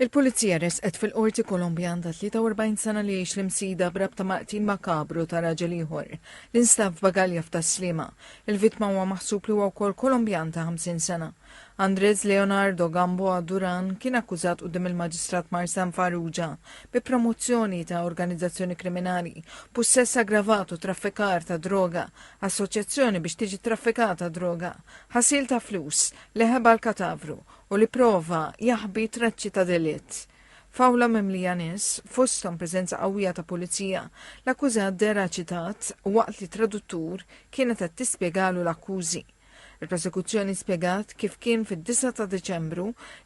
Il-Pulizija ressqet fil-Qorti Kolombjan ta' 43 sena li jgħix l-Imsida b'rabta ma' qtil makabru ta' raġel ieħor li nstab f'bagalja f'Tas-Sliema. Il-vittma huwa maħsub li huwa wkoll Kolombjan ta' 50 sena. Andrés Leonardo Gamboa Duran kien akkużat quddiem il-Maġistrat Marsan Farrugia bi promozzjoni ta' organizzazzjoni kriminali, pussess aggravat u traffikar ta' droga, assoċjazzjoni biex tiġi traffikata droga, ħasil ta' flus, leħeb għall-katavru u li pprova jaħbi traċċi ta' delitt. F'awla mimlija nies, fosthom preżenza qawwija ta' pulizija, l-akkużat dehra ċitat waqt li traduttur kienet qed tispjegalu l-akkużi. Il-prosekuzzjoni spjegat kif kien fid-9 ta' Diċembru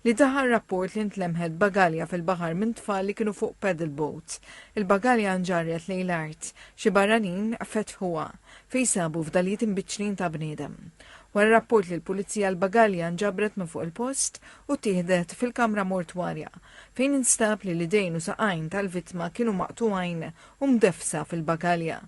li daħal rapport li ntlemħet bagalja fil-baħar minn tfal li kienu fuq paddle boat. Il-bagalja nġarret lejn l-art, xi barranin fetħuha, fejn sabu fdalijiet imbiċċlin ta' bniedem. Wara rapport li l-Pulizija l-bagalja nġabret minn fuq il-post u ttieħdet fil-kamra mortwarja, fejn instab li l-idejn u saqajn tal-vittma kienu maqtugħin u mdeffsa fil-bagalja.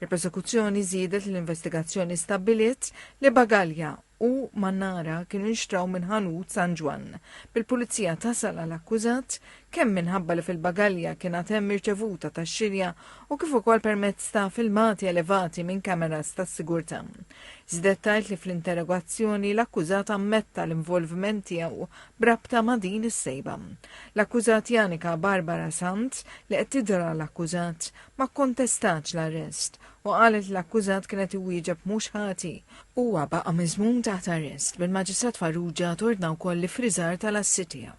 Il-Prosekuzzjoni żiedet li l-investigazzjoni stabbiliet li bagalja u mannara kienu nxtraw minn ħanut San Ġwann, bil-Pulizija tasal għal akkużat kemm minħabba li fil-bagalja kien għad hemm irċevuta tax-xirja u kif ukoll permezz ta' filmati elevati minn kameras tas-sigurtà. Żidet tgħid li fl-interrogazzjoni l-akkużat ammetta l-involviment tiegħu b'rabta ma' din is-sejba. L-akkużat Janika Barbara Sant, li qed tidher għal akkużat, ma kkontestatx l-arrest u qalet li l-akkużat kien qed iwieġeb mhux ħati. Huwa baqa' miżmum taħt arrest bil-Maġistrat Farrugia tordna wkoll l-iffriżar tal-assi tiegħu.